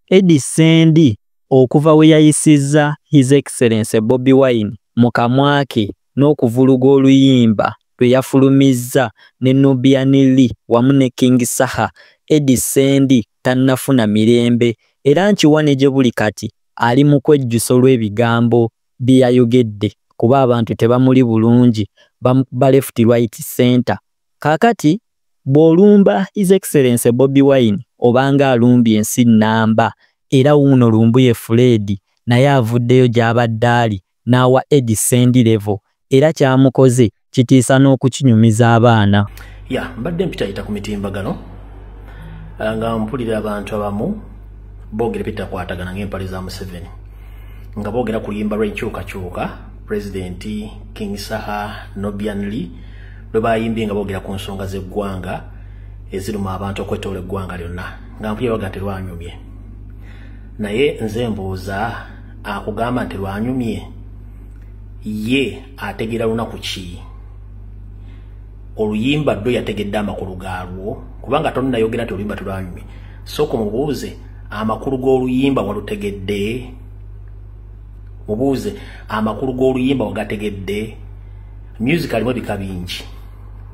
Eddy Ssendi okuva we yayisizza His Excellency Bobi Wine mu kamwa ke n'okuvuluga oluyimba lwe yafulumizza ne Nubian Li wamu ne King Saha, Eddy Ssendi tannafuna mirembe era nkiwa ne gye buli kati ali mu kwejjusa olw'ebigambo bye yayogedde kuba abantu tebamuli bulungi, bamukuba left, right, centre. Kaakati Bw'olumba His Excellency Bobi Wine obanga alumbye ensi nnamba era wuuno Lumbuye Fred naye avuddeyo gy'abadde ali n'awa Eddy Ssendi level era ky'amukoze kitiisa n'okukinyumiza abaana. Ya mbadde mpitayita ku mitimbagano ah, nga mpulira abantu abamu boogera ebitakwatagana ng'empale za Museveni nga boogera ku luyimba lw'enkyukakyuka Pulezidenti King Saha Nobian Lee lwe baayimbye nga boogera ku nsonga z'eggwanga eziruma abantu okwetoola eggwanga lyonna nga mpulya baga nti lwanyumye naye nze mbuuza akugamba nti lwanyumye ye ategeera lunaku ki oluyimba ddo yategedde amakulu gaalwo kubanga tonayogera nti oluyimba tulwanyumye sooka omubuuze amakulu g'oluyimba walutegedde mubuuze amakulu g'oluyimba wagategedde music alimu ebika bingi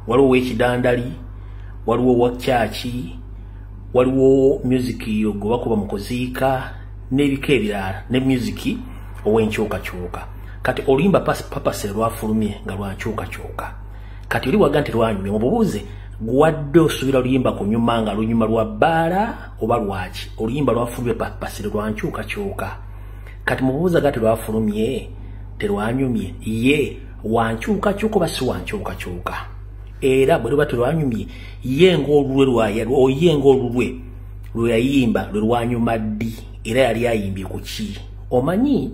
waliwo wekidandali waliwo wakyaki waliwo music yo gwe bakuba mu kuziika n'ebika ebirala ne music ow'enkyukakyuka kati oluyimba papase lwafulumye nga lwankyukakyuka kati oli waga nti lwanyumye mububuuze gwadde osuubira oluyimba kunyuma nga lunyuma lwa bbaala oba lwaki oluyimba lwafulumye papase lwankyukakyuka kati mubuuza gati lwafulumye terwanyumye ye wankyukakyuka oba si wankyukakyuka era bwe luba terwanyumye ye ngaolulwe lwaye ngaolulwe lwe yayimba lwe lwanyuma ddi era yali ayimbye ku ki omanyi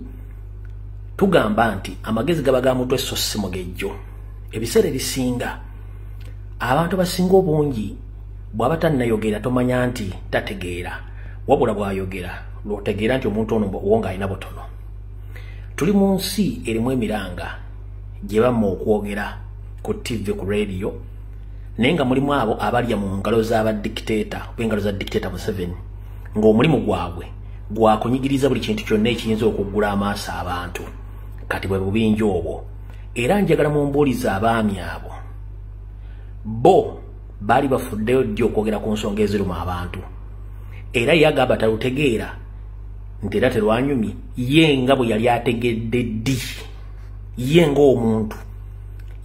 tugamba nti amagezi gaba ga mutwe so si mugejjo ebiseera ebisinga abantu abasinga obungi bw'aba tannayogera tomanya nti tategeera wabula bwayogera lwotegeera nti omuntu ono owo ng'alina butono tuli mu nsi erimu emiranga gye bamma okwogera ku ttivi ku rediyo naye nga mulimu abo abalya mu ngalo z'abadikiteeta oba engalo za dikiteeta museveni ng'omulimu gwabwe gwakunyigiriza buli kintu kyonna ekiyinza okuggula amaaso abantu kati bwe bubinja obwo era njagala mumbuuliza abaami abo bo baali bafuddeyo ddi okwogera ku nsonga eziruma abantu era ye agamba talutegeera nti era terwanyumye ye nga bwe yali ategedde ddi ye ng'omuntu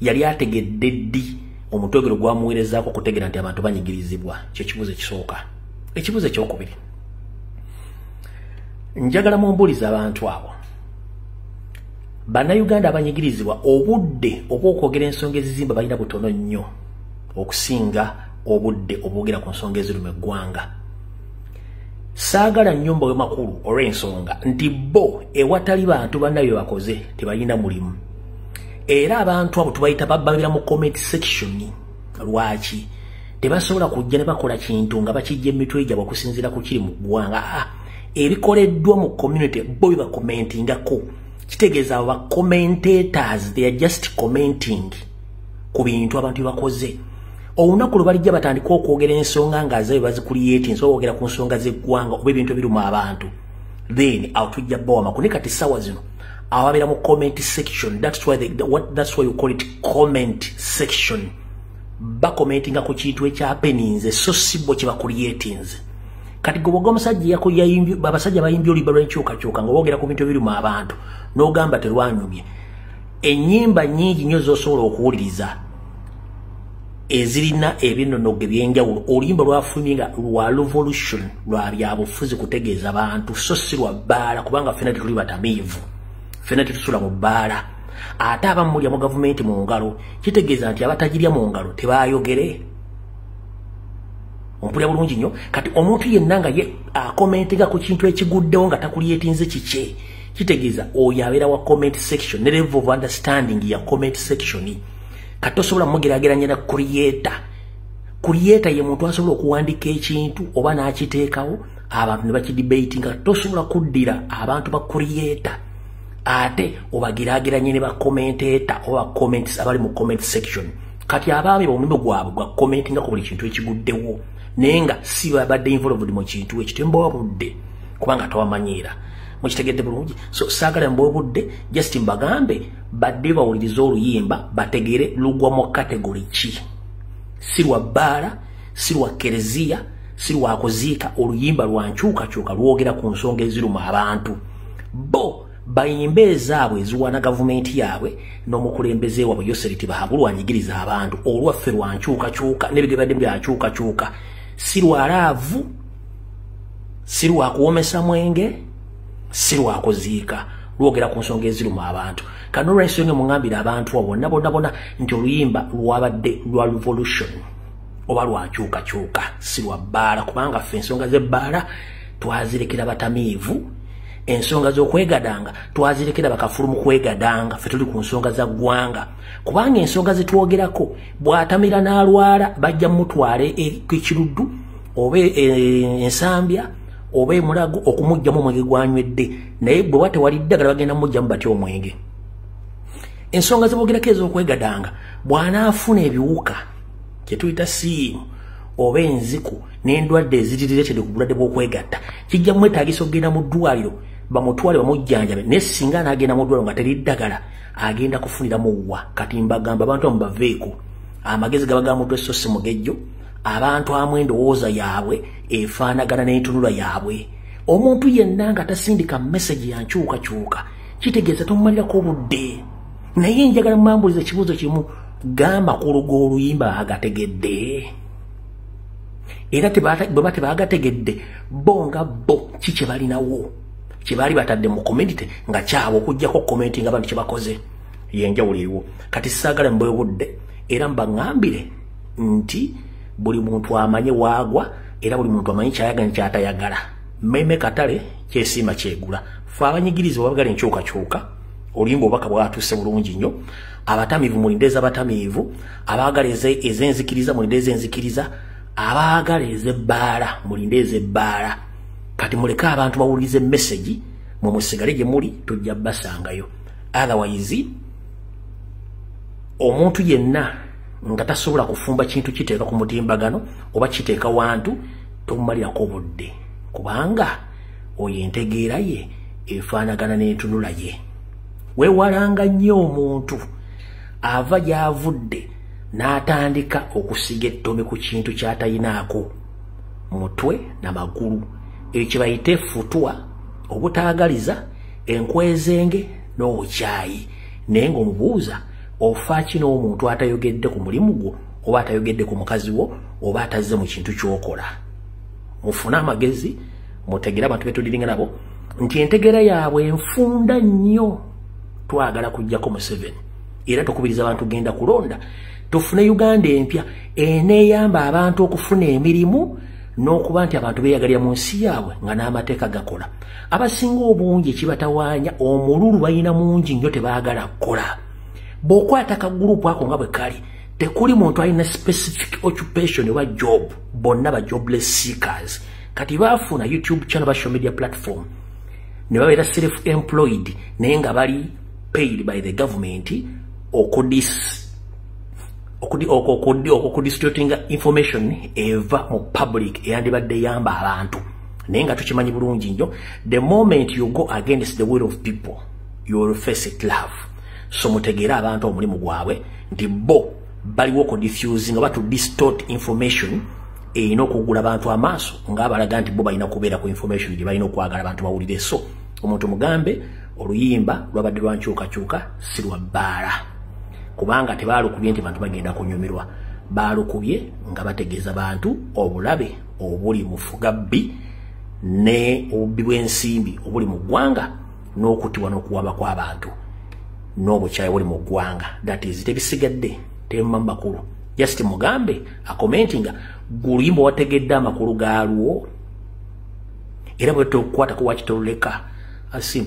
yali ategedde ddi omutwegero gwamuweerezaako okutegeera nti abantu banyigirizibwa kyo kibuzo ekisooka ekibuzo ekyokubiri njagala mumbuliza abantu abo bannayuganda abanyigirizibwa obudde obwokwogera ensonga ezizimba balina butono nnyo okusinga obudde obwogera ku nsonga eziruma eggwanga saagala nnyumba wemakulu olw'ensonga nti bo ewatali bantu banna bye bakoze tebalina mulimu era abantu abo tubayita bababira mu comment section lwaki tebasobola kujja ne bakola kintu nga bakijja emitwe gyabwe okusinziira ku kiri mu ggwanga ah, ebikoleddwa mu community bo bye bakomentingako kitegeeza abo bacomentators they are just commenting ku bintu abantu bye bakoze olunaku lwe balijja batandika okwogera ensonga nga zayo bazikuliyeti nsobola okwogera ku nsonga z'eggwanga oba ebintu ebiruma abantu then awo tujja bawa makulu naye kati ssaawa zino ababeera mu comment section that's why, they, what, that's why you call it comment section bakomentinga ku kintu ekyapeninze so sibo kye bakuliyetinze kati gwe bwoga omusajja yako yayimbye abasajja bayimbye olibala enkyukakyuka nga boogera ku bintu ebiruma abantu n'ogamba terwanyumye enyimba nyingi nyo zosobola okuwuliriza ezirina ebinonogo ebyenjawulo oluyimba lwafulumye nga lwa revolution lwa byabufuzi kutegeeza bantu so si lwa bbaala kubanga fena tetuli batamiivu fena tetusula mu bbaala ate abamulya mu gavumenti mu ngalo kitegeeza nti abatagirya mu ngalo tebayogere ompulya bulungi nnyo kati omuntu yenna nga ye akomentinga ku kintu ekiguddewo nga takulyetinze kikye kitegeeza oyo abeera wa comment section ne level of understanding ya comment section kati tosobola mugerageranya na creator creator ye muntu asobola okuwandika ekintu oba n'akiteekawo abantu ne bakidebate nga tosobola kuddira abantu ba creator ate obagerageranye ne bakomenteta oba comments abali mu comment section kati abaami bomulimu gwabwe gwa commentinga ku buli kintu ekiguddewo naye nga si babadde involved mu kintu ekyo tembawa budde kubanga tawamanyiira mukitegedde bulungi so saagala mba obudde just mbagambe badde bawuliriza oluyimba bategere lugwa mu kategori ki si lwa bbaala si lwa kereziya si lwakuziika oluyimba lwa nkyukakyuka lwogera ku nsonga eziruma abantu bo bayimba ezaabwe eziwaana gavumenti yaabwe n'omukulembeze waabwe yoseri tibahagu lwanyigiriza abantu olwaffe lwa nkyukakyuka nebigabadde byankyukakyuka si lwalaavu si lwakuwomesa mwenge si lwakuziika lwogera ku nsonga eziruma abantu kano olwensonga emuŋambire abantu abo bonna bonna bona nti oluyimba lwabadde lwa revolution oba lwakyukakyuka si lwa bbaala kubanga ffe ensonga z'ebbaala twazirekera batamiivu ensonga z'okwegadanga twazirekera bakafulu mu kwegadanga ffe tuli ku nsonga za ggwanga kubanga ensonga zitwogerako bw'atamira n'alwala bajja mumutwale ekiruddu e, oba e, e, ensambya oba emulago okumugjamu omwenge gwanywedde naye bwe ba tewali ddagala bagenda mumugjamu batya omwenge ensonga zebogerako ez'okwegadanga bw'anaafuna ebiwuka kye tuyita siimu oba enziku n'endwadde eziriretere ku bulwadde bw'okwegatta kijja mwetaagisa okugenda mu ddwaliro bamutwale bamujjanjabe naye singa anaagenda mu ddwaliro nga teri ddagala agenda kufuniramu wa kati mbagamba abantu bamubaveeko amagezi gaba ga mutwe so si mugejjo abantu amu endowooza yaabwe efaanagana n'entunula yaabwe omuntu yenna nga tasindika mesagi ya nkyukakyuka kitegeeza tomumalirako obudde naye njagala mumambuliza ekibuuzo kimu gamba ku lugo oluyimba bagategedde era bweba tebagategedde bo nga bo ki kye balinawo kye baali batadde mu community nga kyabo okugyako komenti nga bantu kye bakoze yenjawulo eriwo kati saagala mbwebudde era mbaŋambire nti buli muntu amanye waagwa era buli muntu amanyi kyayaga ni kyatayagala meme katale kyesiima kyegula fe abanyigirizibwa bagala enkyukakyuka olimba obubaka bwatuuse bulungi nnyo abatamiivu mulinde ezabatamiivu abaagala ezenzikiriza mulinde ezenzikiriza abaagala ezebbaala mulinde ezebbaala kati muleke abantu bawuliriza emesegi mwe musigale gye muli tujja basangayo otherwise omuntu yenna nga tasobola kufumba kintu kiteeka ku mutimbagano oba kiteeka wantu tomumalirako obudde kubanga oyo entegeera ye efaanagana n'entunula ye weewalanga nnyo omuntu ava gy'avudde n'atandika okusiga ettomi ku kintu ky'atalinaako mutwe na magulu ekyo kyebayita efutwa obutaagaliza enkwezenge n'obukyayi naye ng'omubuuza ofaaki n'omuntu atayogedde ku mulimu gwo oba atayogedde ku mukazi wo oba atazze mu kintu kyokola mufune amagezi mutegere abantu betudiringa nabo nti entegera yaabwe enfunda nnyo twagala kujjako museveni era tukubiriza abantu genda kulonda tufune uganda empya eneyamba abantu okufuna emirimu n'okuba nti abantu beyagalira mu nsi yaabwe nga n'amateeka gakola abasinga obungi ekibatawaanya omululu balina mungi nnyo tebaagala kukola bw'okwata kagurupu ako nga bwe kali tekuli muntu alina specific occupation oba job bonna ba jobless seekers kati baafuna youtube channel ba social media platform ne babeera self employed naye nga bali paid by the government okudis okudistributinga information eva mu public eyandibadde yamba abantu naye nga tukimanyi bulungi nnyo the moment you go against the will of people you will face it love so mutegeere abantu omulimu gwabwe nti bo baliwo okudifuse nga batu distort information erina okugula abantu amaaso ngaabalaga nti bo balina kubeera ku information gye balina okwagala abantu bawulire so omuntu mugambe oluyimba lwabadde lwankyukakyuka si lwa bbaala kubanga tebaalukubye nti bantu bagenda kunyumirwa baalukubye nga bategeeza bantu obulabe obuli mufuga bbi ne obubbi bw'ensimbi obuli mu ggwanga n'okutibwa n'okuwaba kw'abantu n'obukyayi buli mu ggwanga that is tebisigadde temuma makulu just mugambe akomenti nga guluyimba wategedde amakulu gaalwo era bwetookukwata kuwakitoluleka asim